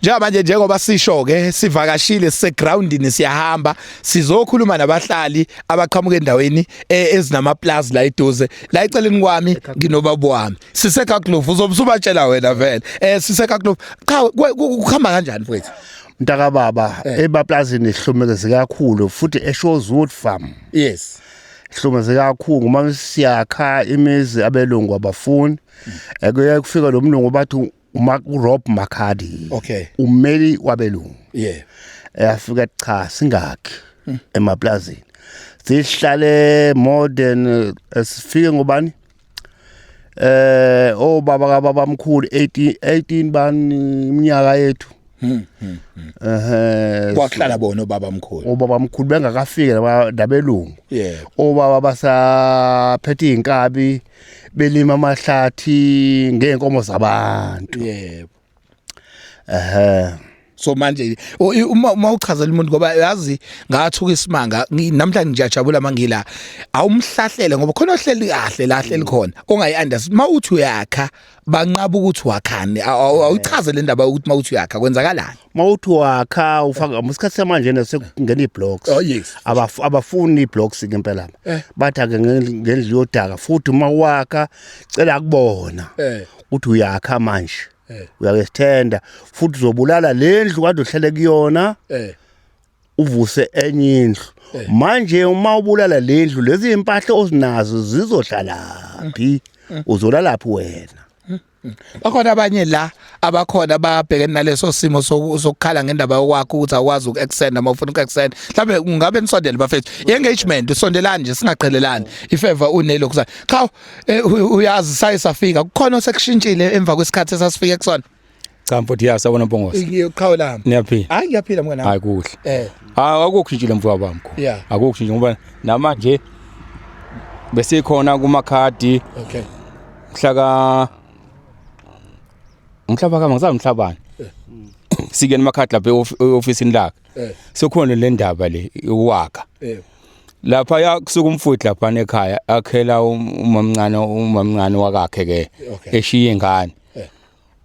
Njengamanje njengoba sisho ke sivakashile sisegroundini siyahamba sizokhuluma nabahlali abaqhamuka endaweni e, ezinama plus la eduze la eceleni kwami nginobaba wami sisekaklovu uzobusubatshela wena vele eh sisekaklovu cha kuhamba kanjani mfowethu mntaka baba eh. ebaplazini ihlumekeze kakhulu futhi eShorewood farm yes hlumeze kakhulu uma siyakha imizi abelungu abafuni ekuye kufika lomlungu bathi uma uRob Makadi Okay. ummeli wabelungu yeah eyafika cha singakhi Hmm. emaplazini sihlale more than eh, sifike ngobani eh obaba kababa mkhulu 18 18 bani iminyaka yethu eh Hmm, kwakuhlala bona obaba mkhulu obaba mkhulu bengakafike laba- nabelungu yeah obaba basaphethe inkabi belima amahlathi ngeenkomo zabantu yebo ehe so manje uma uma uchazela umuntu ngoba yazi ngathuka isimanga namhlanje ngiyajabula mangila awumhlahlele ngoba khona ohleli kahle lahle likhona ongayi understand uma uthi uyakha banqaba ukuthi wakhani awuchaze le ndaba ukuthi mawuthi uyakha kwenzakalani mawuthi wakha ufaka isikhathi samanje nesekungena iblocks oh, abafuni iblocks ke impela eh. bathi ake ngendlu yodaka futhi uma wakha cela kubona eh. ukuthi uyakha manje eh. uyakesithenda futhi uzobulala lendlu kade uhlele kuyona uvuse enye indlu eh. manje uma ubulala lendlu lezi impahla ozinazo zizohlalaphi mm. uzolalaphi wena mm. Mm. bakhona abanye la abakhona babhekene naleso simo sokukhala ngendaba yokwakho ukuthi awukwazi uku-extend noma ufuna uku-extend mhlawumbe ungabe nisondele bafethu i-engagement isondelani nje singaqhelelani ifeva unelo kusana cha eh, uyazi saye safika kukhona osekushintshile emva kwesikhathi esasifike kusona Cha mfowethu ya sawona Mpongose. Ngiyoqhawe lami. Niyaphila. Hayi ngiyaphila mngana. Hayi kuhle. Eh. Ah akukushintshile mfowethu bami mkhulu. Yeah. Akukushintshile ngoba namanje bese khona kuma khadi. Okay. Mhla ka umhlaba kama ngisazi umhlabani. Eh. Sike nemakhadi lapha eofisini lakhe. Eh. Sokhona le ndaba le uwaka. Eh. lapha ya kusuka umfowethu lapha ekhaya akhela um, umamncane umamncane wakakhe ke eshiye ingane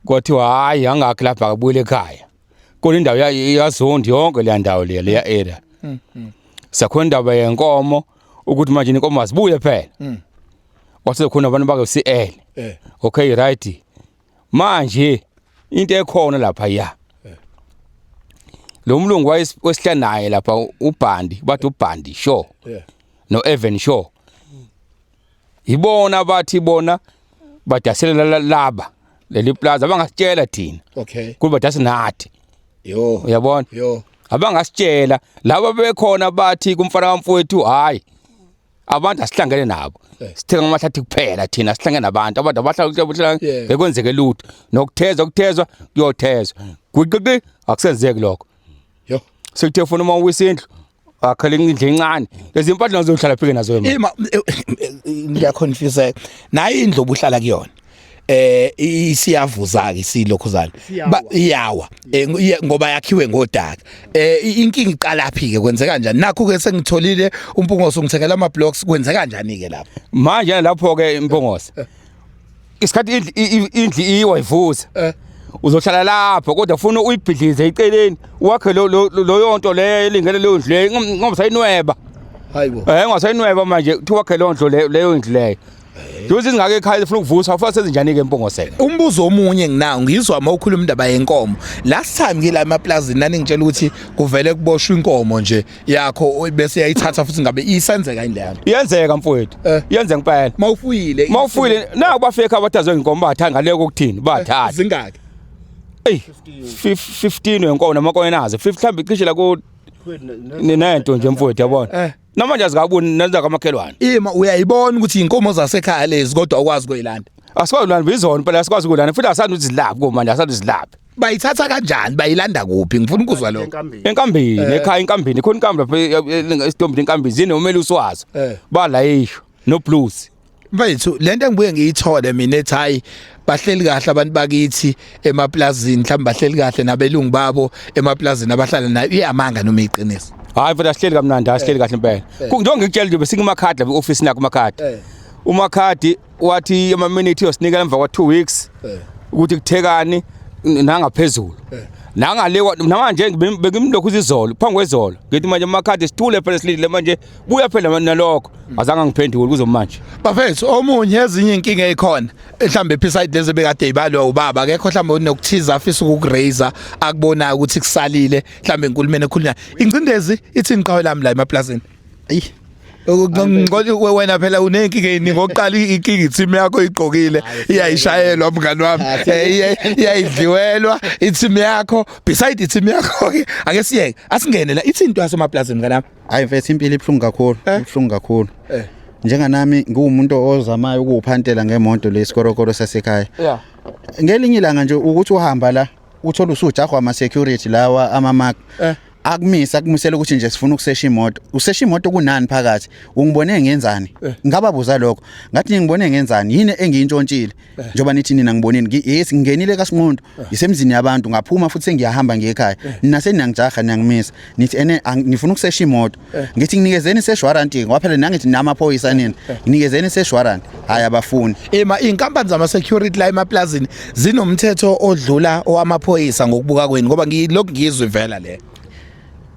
kwathiwa hayi angakhi lapha akabuyele ekhaya kona indawo yazondi yonke leya ndawo leya leya area mm, mm. sakhona indaba yenkomo ukuthi manje inkomo azibuye phela mm. wasekhona abantu bake CL eh. okay right manje into ekhona lapha ya eh. lo mlungu wayesihlala naye lapha ubhandi bathi ubhandi show eh. no Evan show yibona bathi bona badaselela laba leli plaza abangasitshela thina okay kuba badase nathi yo uyabona yo abangasitshela laba bekhona bathi kumfana wamfowethu hayi abantu asihlangene nabo eh. sithenga amahlathi kuphela thina sihlangene nabantu abantu abahlala bekwenzeke lutho nokuthezwa kuthezwa kuyothezwa gwiqiqi akusenzeki lokho yo sekuthe funa uma uwisindlu wakhela indlu encane lezi mpahla nazo uhlala phike nazo wena ima eh, eh, ngiya confuse nayi indlu obuhlala kuyona eh isiyavuza ke silokhuzana iyawa eh, ngoba yakhiwe ngodaka eh inkinga iqala phi ke kwenzeka kanjani nakho ke sengitholile umpungose ungithengela ama blocks kwenzeka kanjani ke lapho manje lapho ke impungose isikhathi indli- i- i- indli iwa ivuza Eh. uzohlala lapho kodwa funa uyibhidlize eceleni wakhe lo- lo- lo- loyo nto leyo elingele leyo ndlu leyo Ingom- ngoba sayinweba hayi bo Eh ungasayinweba manje kuthi wakhe leyo ndlu leyo leyo ndlu leyo. Njengoba izingaka ekhaya zifuna ukuvusa ufuna sezinjani ke empongosela. umbuzo omunye nginawo ngizwa uma ukhuluma indaba yenkomo last time ngila emaplazini naningitshela ukuthi kuvele kuboshwa inkomo nje yakho bese yayithatha futhi ngabe isenzeka indlela iyenzeka mfowethu eh. iyenze ngempela mawufuyile mawufuyile naku bafekhe abathazwe ngenkomo bathenga leko kuthini bathatha eh, zingaki ey 15 wenkomo namakono nazo 50 mhlawumbe cishe la ku ninento nje mfowethu yabona eh. noma nje azikaboni nenza kamakhelwane ima uyayibona ukuthi inkomo zasekhaya lezi kodwa ukwazi kuyilanda asikwazi kulanda bizona phela asikwazi kulanda futhi asandi uzilaphi komanje asandi uzilaphi bayithatha kanjani bayilanda kuphi ngifuna ukuzwa lokho enkambini enkambini Eh. ekhaya enkambini khona inkambi lapha e- e- e- isitombini enkambini zine umele uswazi Eh. balayisho no blues mfethu lento engibuye ngiyithole mina ethi hayi bahleli kahle abantu bakithi emaplazini mhlawumbe bahleli kahle nabelungu babo emaplazini abahlala nayo iyamanga noma iqiniso hayi mfethu asihleli kamnandi asihleli kahle impela Ku- njengoba ngikutshela nje besingemakhadi lapha e-ofisini yakho umakhadi Eh. umakhadi wathi ama-minute yosinikela emva kwa-two weeks eh. ukuthi kuthekani nangaphezulu eh. nangale namanje bekimlokhu izizolo phambi kwezolo ngithi manje amakhadi sithule phela silindile manje buya phela nalokho hmm. azange ngiphendule kuzo manje bafethu omunye ezinye inkinga ekhona mhlambe episide lezi bekade ibalwa ubaba akekho mhlambe unokuthiza afisa ukukuraise akubona ukuthi kusalile mhlambe enkulumeni ekhulunya ingcindezi ithi ngiqhawe lami la emaplazini Ayi. Ngicela ukwe wena phela unenkinga yini ngokuqala inkinga i-team yakho igqokile iyayishayelwa mngani wami eh, iyayidliwelwa i-team yakho beside i-team yakho ke ake siyeke asingene la ithi into yasemaplazini mngani wami hayi mfethu impilo ibhlungu kakhulu eh? ibhlungu kakhulu eh. njenganami ngiwumuntu ozamayo ukuphantela ngemonto lesikorokoro sasekhaya yeah ngelinye ilanga nje ukuthi uhamba la uthola usujahwa ama security lawa ama mark eh. akumise akumisela ukuthi nje sifuna ukusesha imoto usesha imoto kunani phakathi ungibone ngenzani eh. ngaba buza lokho ngathi ngibone ngenzani yini engiyintshontshile eh. njoba nithi nina ngibonini yes ngingenile kasinqondo eh. isemzini yabantu ngaphuma futhi ngiyahamba ngekhaya nina seniyangijaha niyangimisa nithi ene ngifuna ukusesha imoto ngithi nginikezeni seshwarranty kwaphela nangithi namaphoyisa nina nginikezeni seshwarranty hayi abafuni ema inkampani zama security la emaplazini zinomthetho odlula owamaphoyisa ngokubuka kweni ngoba ngilokhu ngizwe vela le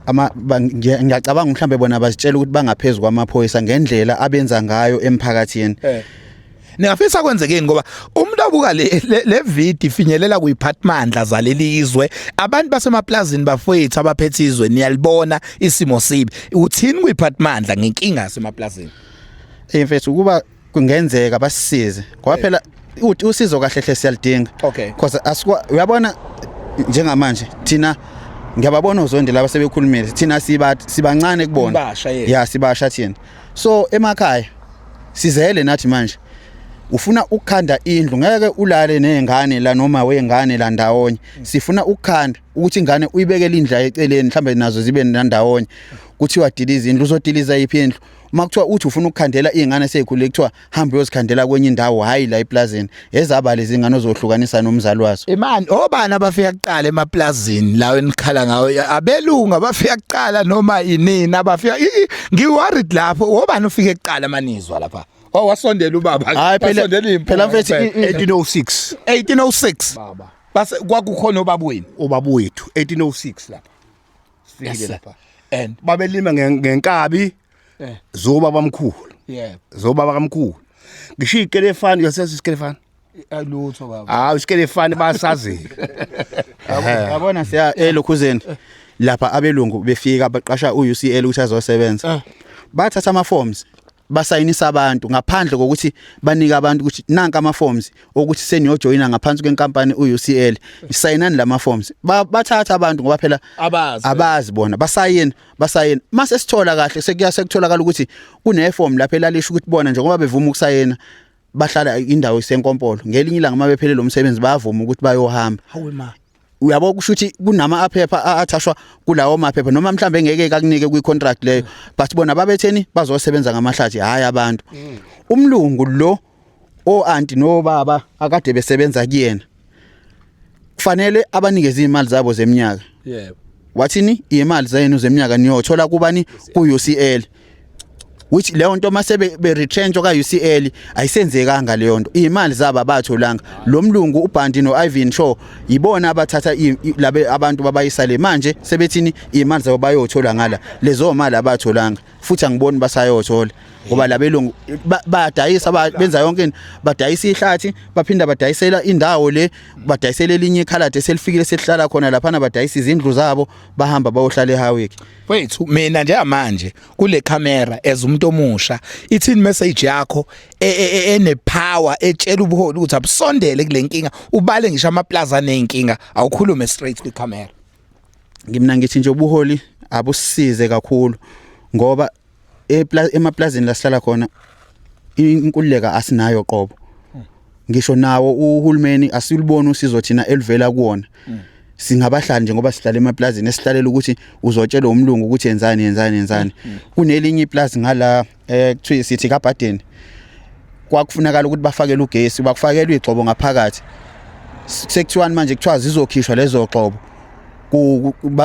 ama ngiyacabanga mhlambe bona bazitshela ukuthi bangaphezulu kwamaphoyisa ngendlela abenza ngayo emphakathini eh. ningafisa kwenzekeni ngoba umuntu abuka le le video ifinyelela kuyiphathmandla zalelizwe abantu basemaplazini bafowethu abaphethe izwe niyalibona isimo sibi uthini kuyiphathmandla ngenkinga semaplazini Hey mfethu ukuba kungenzeka basisize ngoba phela uthi usizo kahle hle siyalidinga Okay. because asikwa uyabona njengamanje thina ngiyababona uzondi laba sebekhulumile thina siba sibancane kubona Ibasha, yes. ya sibasha thina so emakhaya sizele nathi manje ufuna ukukhanda indlu ngeke ulale nezingane la noma wengane la ndawonye Mm. sifuna ukukhanda ukuthi ingane uyibekele indla eceleni mhlambe nazo zibe ndawonye kuthiwa diliza indlu uzodiliza iphi indlu uma kuthiwa uthi ufuna ukukhandela iy'ngane seyikhulile kuthiwa hambe uyozikhandela kwenye indawo hhayi la eplazini ezaba lezi ngane ozohlukanisa nomzali wazo imani obani abafika kuqala emaplazini lawo enikhala ngawo abelungu abafika kuqala noma inini abafika ngiworried lapho obani ufike kuqala amanizwa lapha Oh wasondela ubaba. Hayi phela phela mfethu 1806. 1806. Baba. Base kwakukhona ubabweni. Ubabwethu 1806 lapha. sifikile Yes, sir. lapha and babelima nge- ngenkabi eh zoba bamkhulu yeah zoba bakamkhulu ngisho ikelefani yasesi isikelefani alutho baba hawu isikelefani basazi yabona siya elokhuzeni lapha abelungu befika baqasha uUCL ukuthi azosebenza bathatha ama forms basayinisa abantu ngaphandle kokuthi banike abantu ukuthi nanka ama forms okuthi seniyojoyina ngaphansi kwenkampani uUCL isayinani lama forms bathatha abantu ngoba phela abazi abazi bona basayina basayina mase sithola kahle sekuya sekutholakala ukuthi kune form lapha elalisha ukuthi bona njengoba bevuma ukusayina bahlala indawo isenkompolo ngelinye ilanga mabephelele umsebenzi bayavuma ukuthi bayohamba uyabo kusho ukuthi kunama aphepha athashwa kulawo maphepha noma mhlambe ngeke kakunike kwi contract leyo but bona babetheni bazosebenza ngamahlathi hayi abantu mm. umlungu lo o anti no baba akade besebenza kuyena kufanele abanikeze imali zabo zeminyaka yebo wathini imali zenu zeminyaka niyothola kubani ku UCL which leyo nto mase be retrench oka UCL ayisenzekanga leyo nto imali zaba batholanga lo mlungu uBhandi no Ivan Shaw yibona abathatha labe abantu babayisale manje sebethini imali zabo bayothola ngala lezo mali abatholanga futhi angiboni basayothola ngoba labelungu badayisa benza yonke into badayisa ihlathi baphinda badayisela indawo le badayisela elinye ikhalade selifikile selihlala khona lapha badayisa izindlu zabo bahamba bayohlala eHawick wethu mina njengamanje kule camera as umuntu omusha ithini message yakho e, e, e, ene power etshela ubuholi ukuthi abusondele kule nkinga ubale ngisho ama plaza nenkinga awukhulume straight kwi camera ngimna ngithi nje ubuholi abusize kakhulu ngoba emaplazini la sihlala khona inkululeka asinayo qobo ngisho nawo uhulumeni asiluboni usizo thina elivela kuona singabahlali nje ngoba sihlala emaplazini esihlalela ukuthi uzotshelwa umlungu ukuthi yenzani yenzani yenzani kunelinye iplazi ngala eh kuthiwa sithi kaBaden kwakufunakala ukuthi bafakele ugesi bakufakelwe igxobo ngaphakathi sekuthiwani manje kuthiwa zizokhishwa lezo gxobo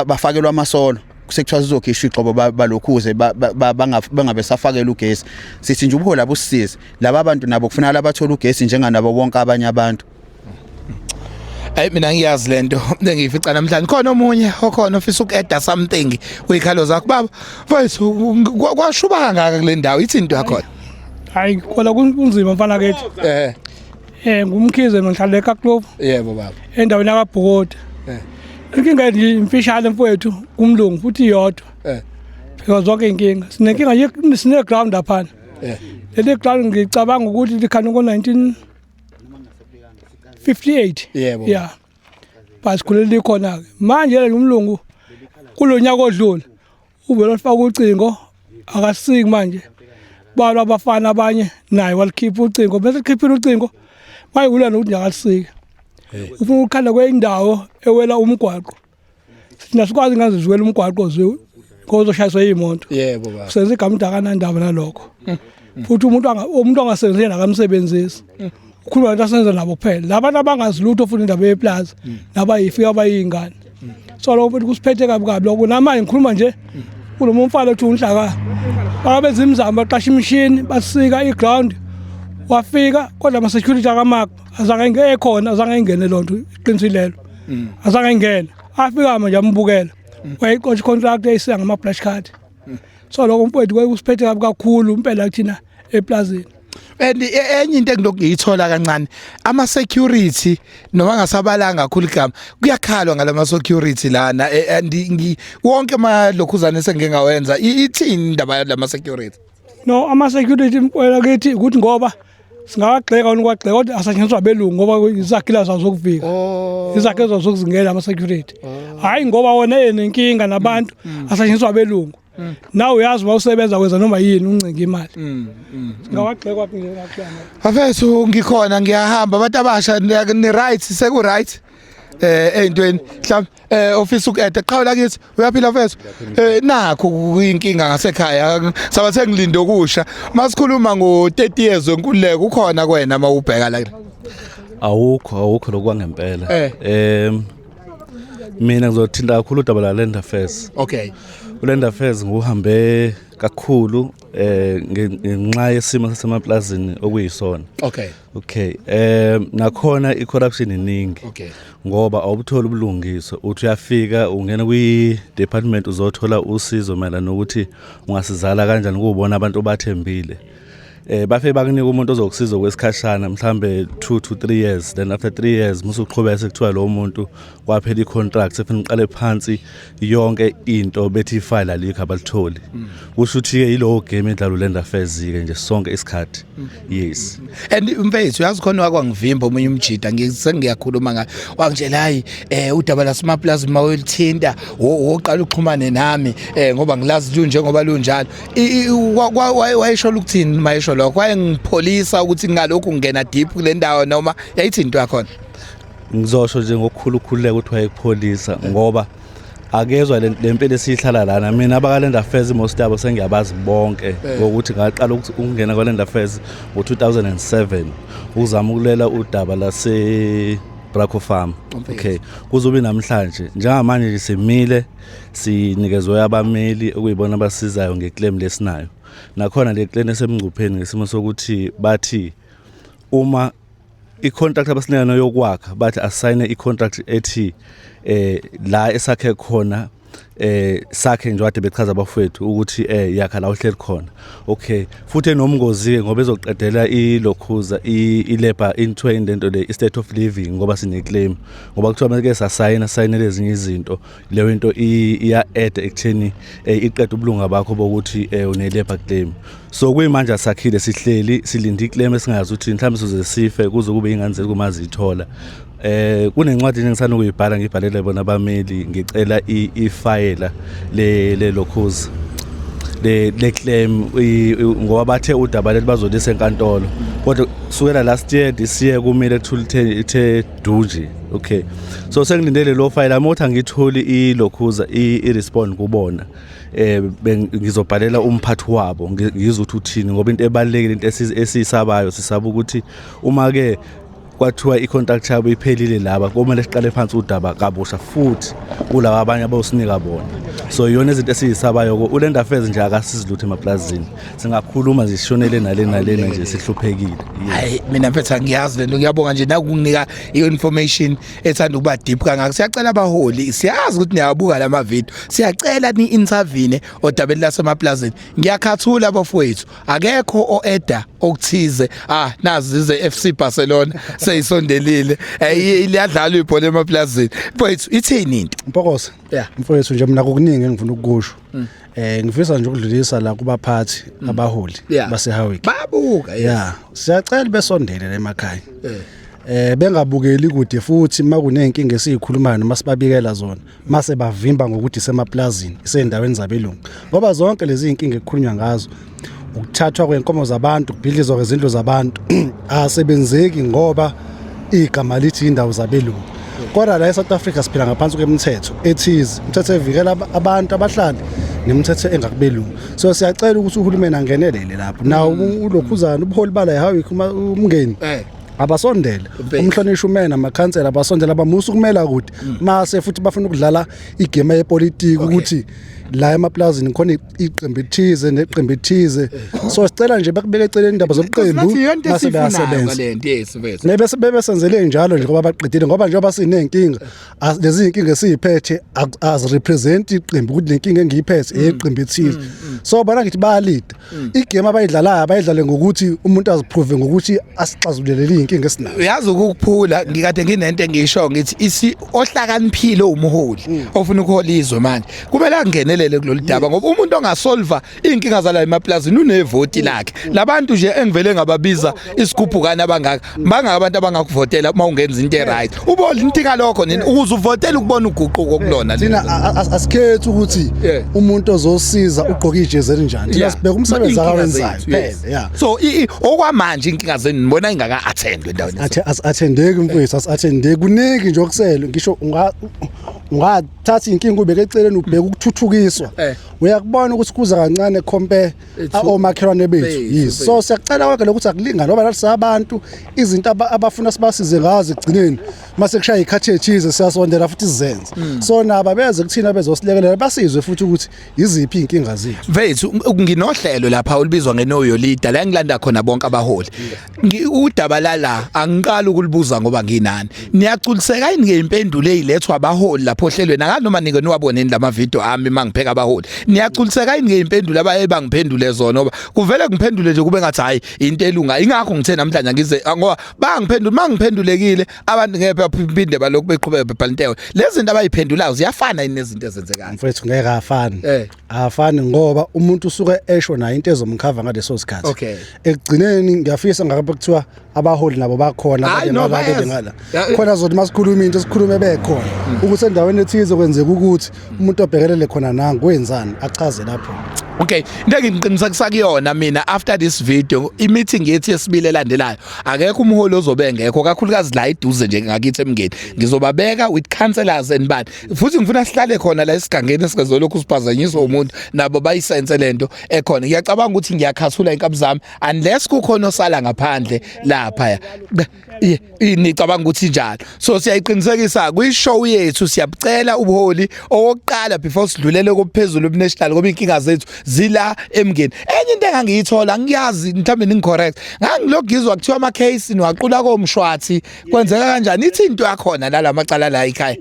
bafakelwa amasolo sekuthiwa sizokhishwa igxobo balokhuze bangabe safakela ugesi sithi nje ubuhola busize laba bantu nabo kufanele abathole ugesi njenganabo bonke abanye abantu Hayi mina ngiyazi lento bengiyifica namhlanje khona omunye okhona ofisa ukueda something uyikhalo zakho baba mfowethu kwashuba kangaka kule ndawo ithi into yakho hayi kwala kunzima mfana kethi eh Eh ngumkhize ngihlala eKaklovu. Yebo baba. Endaweni yakabhokoti. Eh. Inkinga nje imfishane mfowethu kumlungu futhi iyodwa. Eh. Phela zonke inkinga. Sinenkinga ye sine ground lapha. Eh. Leli ground ngicabanga ukuthi likhana ngo 19 58. Yebo. Yeah. Basikhulele khona ke. Manje lomlungu kulonyaka odlule uvele alifaka ucingo akasiki manje balwa abafana abanye naye walikhipha ucingo bese likhiphile ucingo wayewula nokuthi nyakalisike ufuna ukukhala kweyindawo ewela umgwaqo sina sikwazi ngaze ziwela umgwaqo ziwu kozoshayiswa iyimoto yebo baba senza igama umuntu akanandaba nalokho futhi umuntu anga- umuntu ongasebenzisi nakamsebenzisi ukhuluma abantu asenza nabo kuphela labantu abangazi lutho futhi indaba yeplaza mm. nabayifika abayingane mm. so lokho futhi kusiphethe kabi kabi lokho namanje ngikhuluma nje mm. kulo mfana othi unhlaka bakabenza imizamo baqasha imishini basika iground wafika kodwa ama security akamakho azange ngekhona azange ingene lonto iqiniso lelo azange ingene afika manje ambukela wayixotsha contract eyisiya ngama flash card so lokho mfowethu kwaye kusiphethe kabi kakhulu impela kuthina eplazini and e, enye into engilokhu ngiyithola kancane ama security noma ngasabalanga kakhulu igama kuyakhalwa ngalama security lana e, and ngi wonke ama lokhuzane sengike ngawenza ithini indaba yalama security no ama security mkwela kithi ukuthi ngoba singawagxeka unikwagxeka kodwa asetshenziswa belungu ngoba izakhilazi azokuvika oh. izakhilazi azokuzingela ama security oh. hayi ngoba wona enenkinga nabantu mm. mm. asetshenziswa belungu Mm. nawe uyazi uma usebenza kwenza noma yini uncinga imali mm, mm, ngawagxekwa kungenakuyana afethu ngikhona ngiyahamba abantu abasha ni right seku right eh eyintweni mhlawumbe eh ofisa ukuede qhawula kithi uyaphila mfethu eh nakho kuyinkinga ngasekhaya saba sengilinde okusha masikhuluma ngo 30 years wenkululeko ukhona kwena mawubheka la awukho awukho lokwangempela eh. em mina ngizothinta kakhulu udaba la land affairs okay uland affairs nguhambe kakhulu eh ngenxa yesimo sasemaplazini okuyisona okay okay eh nakhona i corruption iningi okay ngoba awubutholi ubulungiswa uthi uyafika ungena kwi department uzothola usizo mayelana nokuthi ungasizala kanjani kubona abantu obathembile eh bafe bakunika umuntu ozokusiza kwesikhashana mhlambe 2 to 3 years then after 3 years musu uqhubeka sekuthiwa lo muntu kwaphela icontract sefuna uqale phansi yonke into bethi ifile alikho abalitholi mm. kusho ukuthi ke yilowo game edlalo lenda affairs ke nje sonke isikhathi mm. yes and mfethu uyazi khona wakwangivimba omunye umjida ngisengiyakhuluma ngayo wangitshela hayi eh udaba la smaplaza uma ulithinta woqala uxhumane nami eh ngoba ngilazi lunje ngoba lunjalo wayesho ukuthini mayesho lokho wayengipholisa ukuthi ngalokhu ngingena deep kule ndawo noma yayithini into yakhona ngizosho nje ngokukhulu ukukhululeka ukuthi wayekupholisa ngoba akezwa le mpilo esiyihlala lana mina abakalend affairs most yabo sengiyabazi bonke eh. ngokuthi ngaqala ukungena kwalend affairs ngo-2007 ukuzama ukulela udaba lase braco farm okay kuzobe namhlanje njengamanje simile sinikezwe abameli okuyibona abasizayo ngeclaim lesinayo nakhona le claim esemngcupheni ngesimo sokuthi bathi uma i-contract abasinayona yokwakha bathi asayine i-contract ethi eh la esakhe khona eh sakhe nje wade bechaza abafowethu ukuthi eh yakha la uhleli khona okay futhi enomngozi ngoba ezoqedela ilokhuza ilabor into into le state of living ngoba sine claim ngoba kuthiwa manje sasayina sayinele ezinye izinto leyo into iya add ekutheni eh, iqeda ubulunga bakho bokuthi eh, une labor claim so kuyimanje asakhile sihleli silinde iclaim esingazi ukuthi mhlawumbe sizoze sife kuze kube ingane zethu uma zithola eh kunencwadi engisana ukuyibhala ngibhalele bona abameli ngicela ifayela le le lokhozi le le claim ngoba bathe udaba leli bazolisa enkantolo kodwa kusukela last year this year kumile kuthula ithe Duji okay so sengilindele lo file amothi angitholi ilokhuza i-respond kubona eh ngizobhalela umphathi wabo ngizwe ukuthi uthini ngoba into ebalekile into esiyisabayo sisaba ukuthi uma ke kwathiwa i-contract yabo iphelile laba komele siqale phansi udaba kabusha futhi kulaba abanye abosinika bona so iyona izinto esiyisabayo-ko ulenda affairs nje akasizi lutho emaplazini singakhuluma nje sishonele nale nalena nje sihluphekile hayi mina mfethu angiyazi lento ngiyabonga nje nakunginika i-information ethanda ukuba deep kangaka siyacela abaholi siyazi ukuthi niyawabuka la mavidiyo siyacela ni-intervene odabeni lasemaplazini ngiyakhathula bafowethu akekho o-eda okuthize ah nazi ze FC Barcelona seyisondelile liyadlalwa ibhola emaplazini mfowethu ithini into mpokosa yeah mfowethu nje mina kukuningi engifuna ukukusho mm. Eh ngifisa nje ukudlulisa la kubaphathi mm. abaholi yeah. baseHowick. Babuka yes. Yeah. Siyacela besondele emakhaya. Eh. eh bengabukeli kude futhi makunenkinga esiyikhulumayo noma sibabikela zona mase bavimba ngokuthi semaplazini isendaweni zabelungu ngoba zonke lezi inkinga ekukhulunywa ngazo ukuthathwa kwenkomo zabantu kubhidlizwa kwezindlu zabantu asebenzeki ngoba igama lithi indawo zabelungu kodwa la eSouth Africa siphila ngaphansi kwemithetho ethize imithetho evikela abantu abahlali nemithetho engakubelungu so siyacela ukuthi uhulumeni angenelele lapho nawo mm. ulokhuzana ubuholi bala yahawi umngeni eh. abasondele umhlonishwa umena amakhansela abasondele abamusa ukumela kude mm. mase futhi bafuna ukudlala igame yepolitiki ukuthi la emaplazini khona iqembu ethize neqembu ethize so sicela nje bakubeke eceleni indaba zobuqembu mase bayasebenza nebese bebe senzele njalo nje ngoba baqedile ngoba njengoba sinenkinga lezi inkinga esiziphethe as represent iqembu ukuthi lenkinga engiyiphethe mm. eyeqembu ethize mm, mm. so bona ngithi bayalida igame abayidlalayo bayidlale ngokuthi umuntu aziprove ngokuthi asixazulele inkinga esinayo uyazi ukukuphula ngikade nginento engisho ngithi isi ohlakaniphile umuholi ofuna ukuhola izwe manje kumele angenelele kulolu daba ngoba umuntu ongasolva inkinga zala emaplazini unevoti lakhe labantu nje engivele ngababiza isigubhukani abangaka bangaka abantu abangakuvotela uma ungenza into eright ubona into ngalokho nini ukuze uvotele ukubona uguquko kulona thina asikhethi ukuthi umuntu ozosiza ugqoka ijezi elinjani thina sibheka umsebenzi akawenzayo phela so okwamanje inkinga zenu nibona ingaka attend endaweni athe athendeki mfowethu athendeki kuningi nje okusele ngisho unga unga thatha inkinga ubeke eceleni ubheka ukuthuthukiswa eh. uyakubona ukuthi kuza kancane compare omakhelwane bethu yes so siyacela konke lokuthi akulinga ngoba lalisa abantu izinto abafuna sibasize ngazo ekugcineni mase kushaya ikhathi ethize siyasondela futhi sizenze hmm. so naba beze kuthina bezosilekelela basizwe futhi ukuthi iziphi inkinga zethu mfethu nginohlelo lapha olibizwa ngenoyo leader la ngilanda khona bonke abaholi udaba lala angiqali ukulibuza ngoba nginani niyaculiseka yini ke impendulo ezilethwa abaholi lapho ohlelweni akanoma nike niwaboneni lama video ami mangipheka abaholi niyaculiseka yini ke impendulo abaye bangiphendule zona ngoba kuvele ngiphendule nje kube ngathi hayi into elunga ingakho ngithe namhlanje ngize ngoba bangiphendula mangiphendulekile abantu ngeke baphinde balokhu beqhubeka bebhala intewe lezi zinto abayiphendulayo ziyafana yini nezinto ezenzekayo mfethu ngeke afani eh. afani ngoba umuntu usuke esho nayo into ezomkhava ngaleso sikhathi okay ekugcineni ngiyafisa ngakabe kuthiwa abaholi nabo bakhona abanye nabake ngala khona zothi masikhuluma into sikhulume bekhona hmm. ukuthi endaweni ethize kwenzeka ukuthi umuntu obhekelele khona nangu kwenzani achaze lapho Okay, into engiqinisa kusakuyona mina after this video i-meeting yethi yesibili elandelayo akekho umholi ozobe engekho kakhulukazi la iduze nje ngakithi emngeni ngizobabeka with counselors and bani futhi ngifuna sihlale khona la esigangeni esingezolokhu siphazanyiswa umuntu nabo bayisense lento ekhona ngiyacabanga ukuthi ngiyakhathula inkabi zami unless kukhona osala ngaphandle lapha nicabanga ukuthi njalo so siyayiqinisekisa kwishow yethu siyabucela ubuholi owokuqala before sidlulele kophezulu obnational ngoba inkinga zethu zila emngeni enye into engangiyithola ngiyazi mhlawumbe ningicorrect ngangilogizwa kuthiwa ama case niwaqula komshwathi kwenzeka kanjani ithi into yakhona la lamacala la ekhaya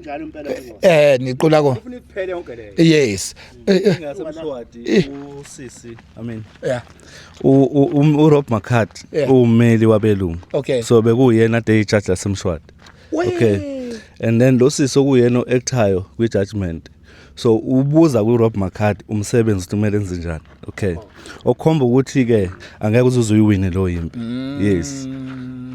njalo impela eh niqula ko ufuna iphele yonke le yes eh, eh. ngase mshwadi eh. usisi i mean yeah um, uRob Macard yeah. uwumeli wabelungu okay. so bekuyena day judge lasemshwadi okay and then lo sisi okuyena oactayo kwi judgment so ubuza ku Rob Macard umsebenzi kumele enze njani okay okhomba ukuthi ke angeke uzuze uyiwine lo yimpi mm. yes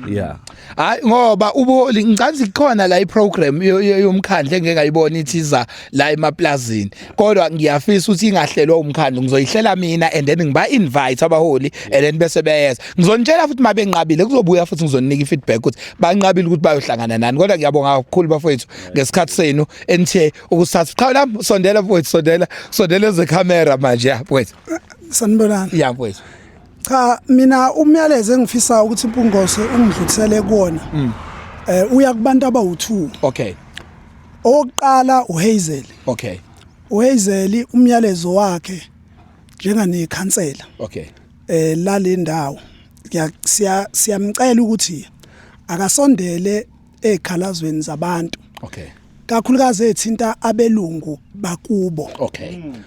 yeah hayi ngoba ubuholi ngicanzi khona la iprogram yomkhandle engeke ayibona ithiza la emaplazini kodwa ngiyafisa ukuthi ingahlelwa umkhandle ngizoyihlela mina and then ngiba invite abaholi and then bese beyeza ngizonitshela futhi mabe nqabile kuzobuya futhi ngizoninika ifeedback ukuthi banqabile ukuthi bayohlangana nani kodwa ngiyabonga kakhulu bafowethu ngesikhathi senu enithe ukusatha qhawe lami sondela mfowethu sondela sondela ze camera manje ya mfowethu sanibonani ya mfowethu cha mina umyalezo engifisa ukuthi impungose ungidlulisele kuwona mm. eh uya kubantu abawu2 okay oqala uHazel okay uHazel umyalezo wakhe njengane khansela okay eh lalendawo siya siyamcela ukuthi akasondele ekhalazweni zabantu okay kakhulukazi ethinta abelungu bakubo okay mm.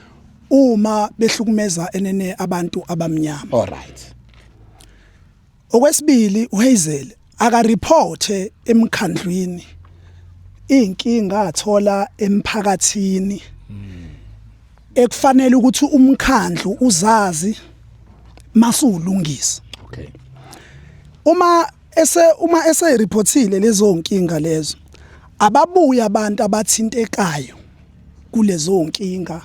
uma behlukumeza enene abantu abamnyama all right okwesibili uHazel aka report emkhandlwini inkinga athola emphakathini ekufanele ukuthi umkhandlu uzazi masulungisa okay uma ese uma ese reportile lezo nkinga lezo ababuya abantu abathintekayo kulezo nkinga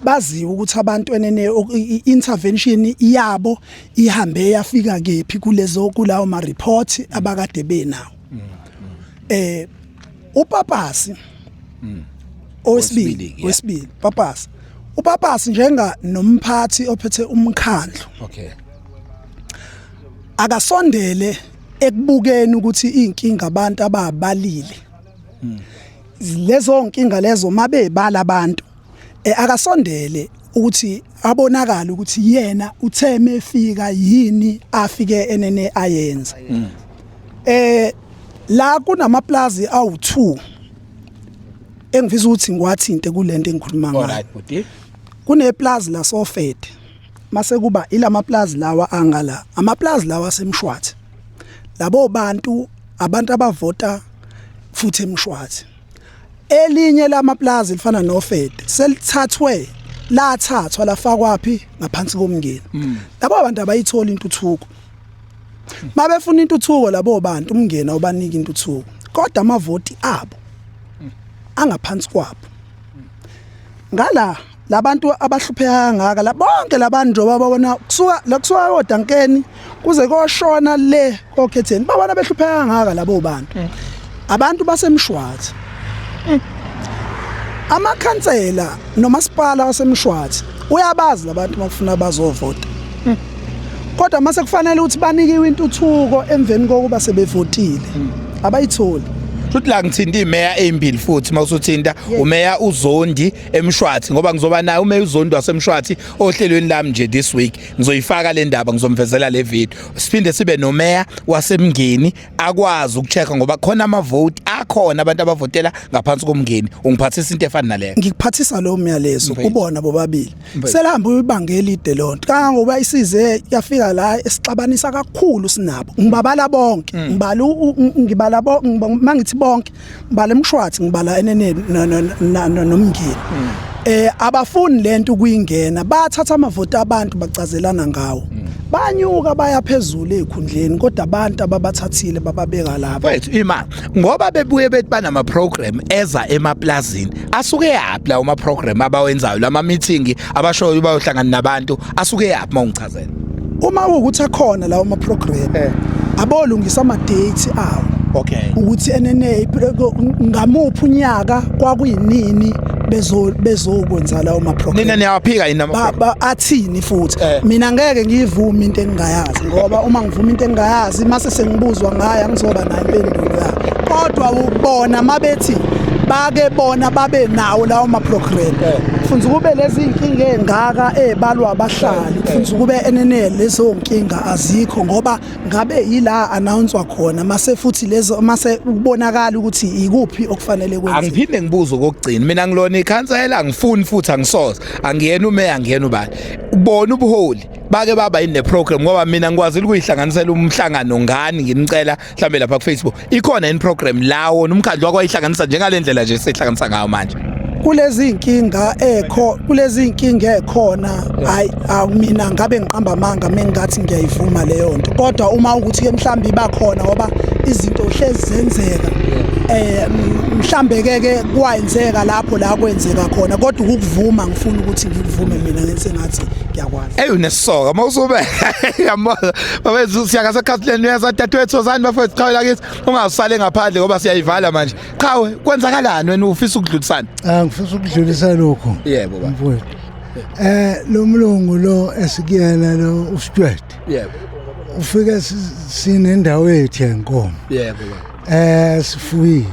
baziwe ukuthi abantu enene intervention yabo ihambe yafika kephi kulezo kulawo ma report abakade benawo mm, mm. eh upapasi mm. owesibili wesibili papasi upapasi njenga nomphathi ophethe umkhandlu okay akasondele ekubukeni ukuthi inkinga abantu ababalile hmm. lezo nkinga lezo mabebala abantu eh, akasondele ukuthi abonakala ukuthi yena uthe mefika yini afike enene ayenze hmm. eh la kunamaplazi awu2 engifisa ukuthi ngiwathinte kulento engikhuluma ngayo kuneplazi la sofete mase kuba ilamaplazi lawa angala amaplazi lawa asemshwathi labo bantu abantu abavota futhi emshwathi elinye lamaplazi lifana nofede selithathwe lathathwa lafakwaphi ngaphansi komngeni hmm. labo bantu abayithola intuthuko mabefuna intuthuko labo bantu umngeni awubaniki intuthuko kodwa amavoti abo hmm. angaphansi kwabo ngala labantu abahlupheka kangaka la bonke labantu njengoba babona kusuka la kusuka kodankeni kuze koshona le kokhetheni babona behlupheka kangaka labo bantu mm. abantu basemshwathi mm. amakhansela nomasipala wasemshwathi uyabazi labantu makufuna bazovota mm. kodwa mase kufanele ukuthi banikiwe intuthuko emveni kokuba sebevotile abayitholi futhi la ngithinta imeya ezimbili futhi mawusuthinta umeya uzondi emshwathi ngoba ngizoba naye ume uzondo wasemshwathi ohlelweni lami nje this week ngizoyifaka le ndaba ngizomvezela le video siphinde sibe nomeya wasemngeni akwazi ukuchecka ngoba khona amavoti akhona abantu abavotela ngaphansi komngeni ungiphathisa into efana naleyo ngikuphathisa lo myalezo kubona bobabili selihamba uyibanga elide lonto kangangoba isize yafika la esixabanisa kakhulu sinabo ngibabala bonke mm. ngibala ngibala bonke mangithi bonke ngibala emshwathi ngibala eneneni nomngeni hmm. eh abafuni lento kuyingena bathatha amavoti abantu bacazelana ngawo hmm. banyuka baya phezulu ezikhundleni kodwa abantu ababathathile bababeka lapha wethu imali ngoba bebuye bethi banama program eza emaplazini asuke yaphi la uma program abawenzayo lama meeting abashoyo bayohlangana nabantu asuke yaphi mawungichaza Cela. Uma ukuthi akhona lawo ma program eh. abolungisa ama date awo. Okay. Ukuthi enene ngamuphi unyaka kwakuyinini bezo bezokwenza lawo ma program. Nina niyaphika yini ama program? Athini futhi. Eh. Mina ngeke ngiyivume into engingayazi ngoba uma ngivuma into engingayazi mase sengibuzwa ngayo angizoba nayo impendulo yayo. Kodwa ubona mabethi bake bona babe nawo lawo ma program. Eh. Funza kube lezi inkinga engaka ebalwa abahlali. futhi kube enene lezo nkinga azikho ngoba ngabe yila announcwa khona mase futhi lezo mase kubonakala ukuthi ikuphi okufanele kwenziwe angiphinde ngibuze kokugcina mina ngilona ikhansela angifuni futhi angisoze angiyena umeya angiyena ubani ubona ubuholi bake baba yini le program ngoba mina ngikwazile ukuyihlanganisela umhlangano ngani ngimcela mhlambe lapha kufacebook ikhona yini program la wona umkhandlu wakwayihlanganisa njengale ndlela nje sihlanganisa ngayo manje kulezi inkinga ekho kulezi inkinga ekhona hayi mina ngabe ngiqamba amanga mengathi ngiyayivuma leyo nto kodwa uma ukuthi ke mhlambi bakhona ngoba izinto hlezi zenzeka eh mhlambe ke ke kwayenzeka lapho la kwenzeka khona kodwa ukuvuma ngifuna ukuthi ngikuvume mina ngenze ngathi ngiyakwazi eyi unesoka mawusube yamona bafethu siyaka sekhasileni uyeza dadewethu ozani bafethu qhawe lakithi ungasale ngaphandle ngoba siyayivala manje qhawe kwenzakalani wena ufisa ukudlulisana ah ngifisa ukudlulisa lokho yebo baba mfowethu eh lo mlungu lo esikuyena lo ustwet yebo ufike sinendawo yethu yenkomo yebo baba eh sifuyile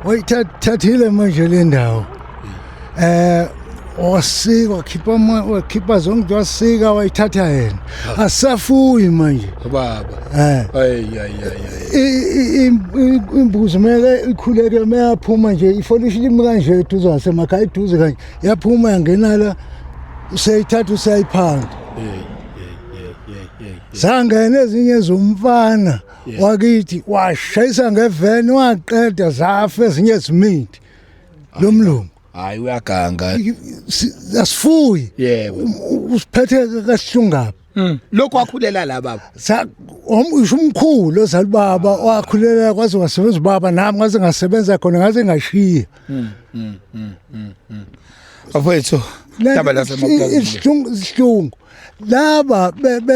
oyithathile manje le ndawo eh wasika wakhipha ama- wakhipha zonke into wasika wayithatha yena asafuyi manje baba eh ayi ayi ayi i- i- im- i- imbuzi meke ikhuleke meyaphuma nje ifolishi limi kanje eduze wasemakhaya eduze kanje yaphuma yangena la useyithatha usayiphanda zangena ezinye zomfana wakithi washayisa ngeveni waqeda zafa ezinye zimithi lo mlungu hayi uyaganga asifuyi yebo usiphethe kahlungaphi hmm. lokho wakhulela la baba sa omsho umkhulu ozala baba wakhulela kwaze wasebenza ubaba nami ngaze ngasebenza khona ngaze ngashiya hmm, hmm, afethu laba lasemapulazini ihlungu ihlungu laba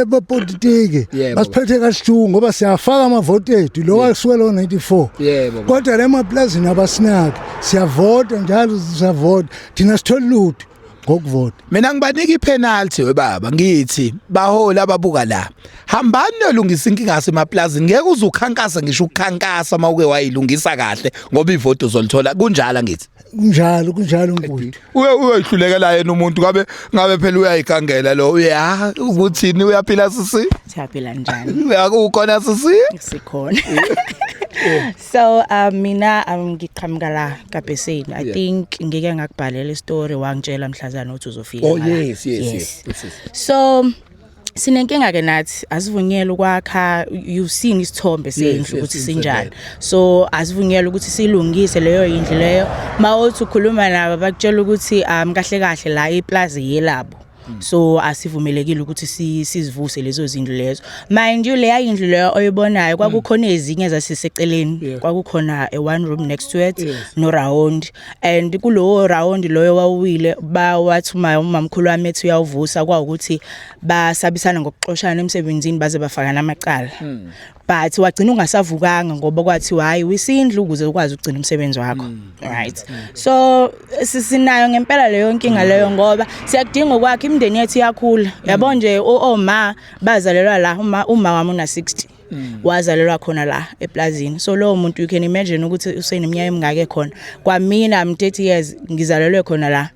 bepolitiki basiphethe kasihluku ngoba siyafaka amavoti ethu lo wasuke lo 94 kodwa le maplazini abasinaki siyavota njalo siyavota thina sithola lutho ngokuvota mina ngibanika ipenalty webaba ngithi bahola ababuka la hambani nolungisa inkinga yasemaplazi ngeke uzukhankasa ngisho ukukhankasa mawuke wayilungisa kahle ngoba ivoti uzolithola kunjalo ngithi kunjalo kunjalo mfowethu uye uyoyihlulekela yena umuntu ngabe ngabe phela uyayigangela lo uya ukuthini uyaphila sisi siyaphila njani uyakukhona sisi sikhona so uh, mina um, ngiqhamuka la kabheseni i yeah. think ngike ngakubhalela istory wangitshela mhlazana ukuthi uzofika oh yes yes, yes yes yes so sinenkinga ke nathi asivunyelwe ukwakha you've seen isithombe sendlu ukuthi sinjani so asivunyelwe ukuthi silungise leyo yindlu leyo mawuthi ukhuluma nabo bakutshela ukuthi um kahle kahle la iplaza yelabo Mm. so asivumelekile ukuthi sizivuse lezo zindlu lezo mind you leya indlu leyo oyibonayo mm. kwakukhona ezinye zasiseceleni kwakukhona a one room next to it no round and kulowo round loyo wawuwile bawathi uma umamkhulu wami ethi uyawuvusa kwawukuthi basabisana ngokuxoshana emsebenzini baze bafakana amacala hmm. but wagcina ungasavukanga ngoba kwathi hayi wisindlu ukuze ukwazi ukugcina umsebenzi wakho hmm. right hmm. so sisinayo ngempela leyo nkinga leyo ngoba siyakudinga okwakhe imindeni yethu iyakhula yabo nje oma bazalelwa la uma uma wami una 60 Mm. wazalelwa khona la eplazini so lowo muntu you can imagine ukuthi useneminyaka emingaka ekhona kwamina i'm 30 years ngizalelwe khona la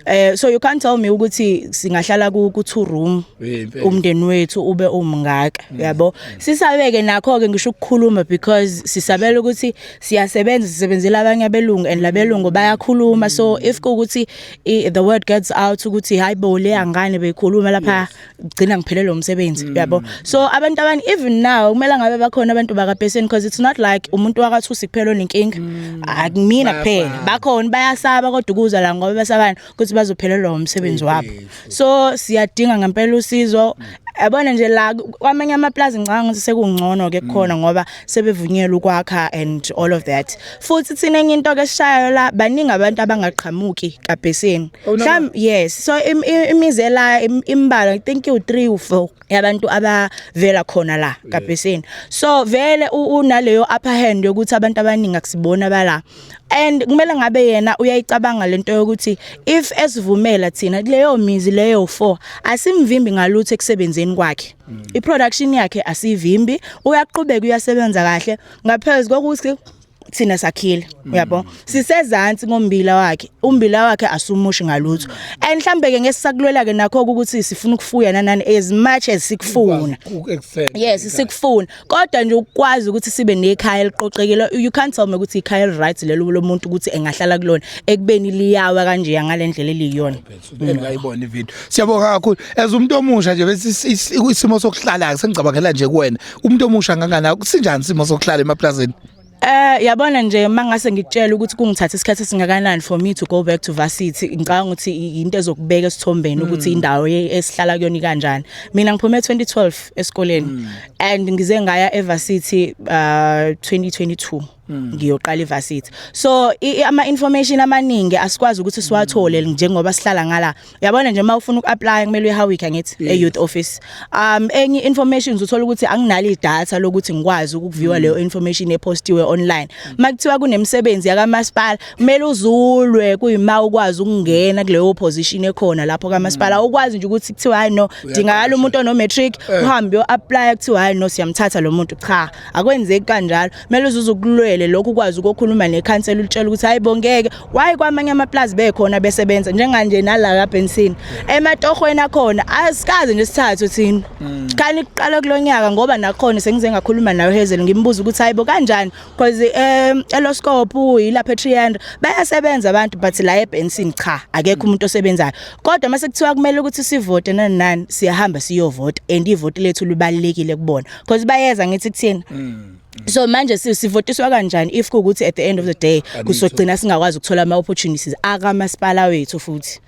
eh so you can't tell me ukuthi singahlala ku ku two room umndeni wethu ube umngaka mm. yabo sisabeke nakho ke ngisho ukukhuluma because sisabela ukuthi siyasebenza sisebenzela abanye abelungu and labelungu bayakhuluma so if ukuthi the word gets out ukuthi hayibo le angane beyikhuluma lapha gcina ngiphelelwe umsebenzi mm. yabo so abantu abani even now kumele ngabe bakhona abantu bakabheseni because it's not like umuntu wakathusi kuphela onenkinga mm. akumina kuphela bakhona bayasaba kodwa ukuza la ngoba besabani ukuthi bazophelelwa umsebenzi wabo so siyadinga ngempela usizo mm. yabona nje la kwamanye amaplazi ngicanga ukuthi sekungcono ke khona ngoba sebevunyelwe ukwakha and all of that futhi thina enye into ke sishayo la baningi abantu abangaqhamuki kabhesini oh, mhlawumbe yes so imizi ela imbala i think you 3 u 4 yabantu abavela khona la kabhesini so vele unaleyo upper hand yokuthi abantu abaningi akusibona bala and kumele ngabe yena uyayicabanga lento yokuthi if esivumela thina kuleyo mizi leyo 4 asimvimbi ngalutho ekusebenzeni kwakhe Mm. I-production yakhe asivimbi, uyaqhubeka uyasebenza kahle ngaphezu kokuthi thina sakhile mm. uyabo sisezantsi ngombila wakhe umbila wakhe asumushi ngalutho and mhlambe ke ngesisakulwela ke nakho ukuthi sifuna ukufuya nanani as much as sikufuna yes sikufuna kodwa nje ukwazi ukuthi sibe nekhaya eliqoqekile you can't tell me ukuthi ikhaya right lelo lomuntu ukuthi engahlala kulona ekubeni liyawa kanje ngalendlela eliyiyona engayibona ivideo siyabonga kakhulu as umuntu omusha nje bese isimo sokuhlala sengicabangela nje kuwena umuntu omusha ngangana kusinjani isimo sokuhlala emaplazini Eh yabona nje mangase ngikutshela ukuthi kungithatha isikhathi esingakanani for me to go back to varsity ngicabanga ukuthi into ezokubeka esithombeni hmm. ukuthi indawo esihlala kuyona kanjani mina ngiphume 2012 esikoleni hmm. and ngize ngaya evarsity uh 2022 Mm. ngiyoqala ivarsity so ama information amaningi asikwazi ukuthi siwathole mm. njengoba sihlala ngala uyabona nje uma ufuna ukuapply kumele uyihawick ngithi e youth office um enye information uzothola ukuthi anginalo idata lokuthi ngikwazi ukuviewa mm. leyo information epostiwe online makuthiwa kunemisebenzi yakamasipala kumele uzulwe kuyima ukwazi ukungena kuleyo position ekhona lapho kamasipala ukwazi nje ukuthi kuthiwa hayi no dingakala umuntu ono matric eh. uhambe uyo apply kuthiwa hayi no siyamthatha lo muntu cha akwenzeki kanjalo kumele uzuze ukulwele lokhu ukwazi ukukhuluma nekhansela ulitshela ukuthi hayi bongeke waye kwamanye amaplazi bekhona besebenza njenganje nala ka Benson ematohweni akhona asikaze nje sithathu thina mm. khani kuqala kulonyaka ngoba nakhona sengize ngakhuluma nayo Hazel ngimbuza ukuthi hayibo kanjani because um eloscope yilapha eTriand bayasebenza abantu but la eBenson cha akekho umuntu osebenzayo kodwa mase kuthiwa kumele ukuthi sivote nani nani siyahamba siyovota and ivoti lethu libalekile kubona because bayeza ngithi kuthini mm. so manje sivotiswa kanjani if kukuthi at the end of the day kusogcina singakwazi ukuthola ama opportunities aka masipala wethu futhi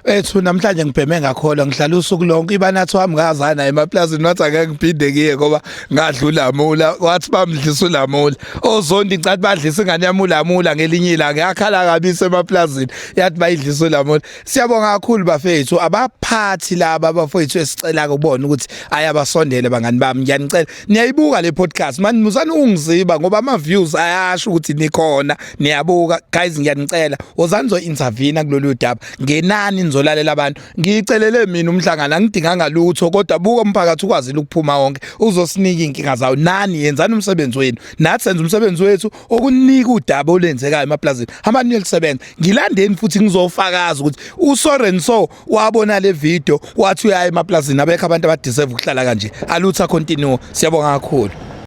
ethu namhlanje ngibheme ngakholwa ngihlala usuku lonke ibanathi wami ngazana emaplazini wathi ake ngiphinde kiye ngoba ngadlula amula wathi bamdlisa ulamula ozondi ngicathi badlisa ingane yami ulamula ngelinye ilanga yakhala kabisa emaplazini yathi bayidlisa ulamula Siyabonga kakhulu bafethu abaphathi laba bafethu esicela kubona ukuthi ayabasondele bangani bami ngiyanicela niyayibuka le podcast manje musani ungiziba ngoba ama views ayasho ukuthi nikhona niyabuka guys ngiyanicela wozani zo intervene kulolu daba ngenani nizolalela abantu ngicelele mina umhlangano angidinganga lutho kodwa buka umphakathi ukwazile ukuphuma wonke uzosinika inkinga zawo nani yenzani umsebenzi wenu nathi senza umsebenzi wethu okunika udaba olenzekayo emaplazini amaningi elisebenza ngilandeni futhi ngizofakaza ukuthi usoren so wabona le video wathi uyaya emaplazini abekho abantu abadeserve ukuhlala kanje alutha continue siyabonga kakhulu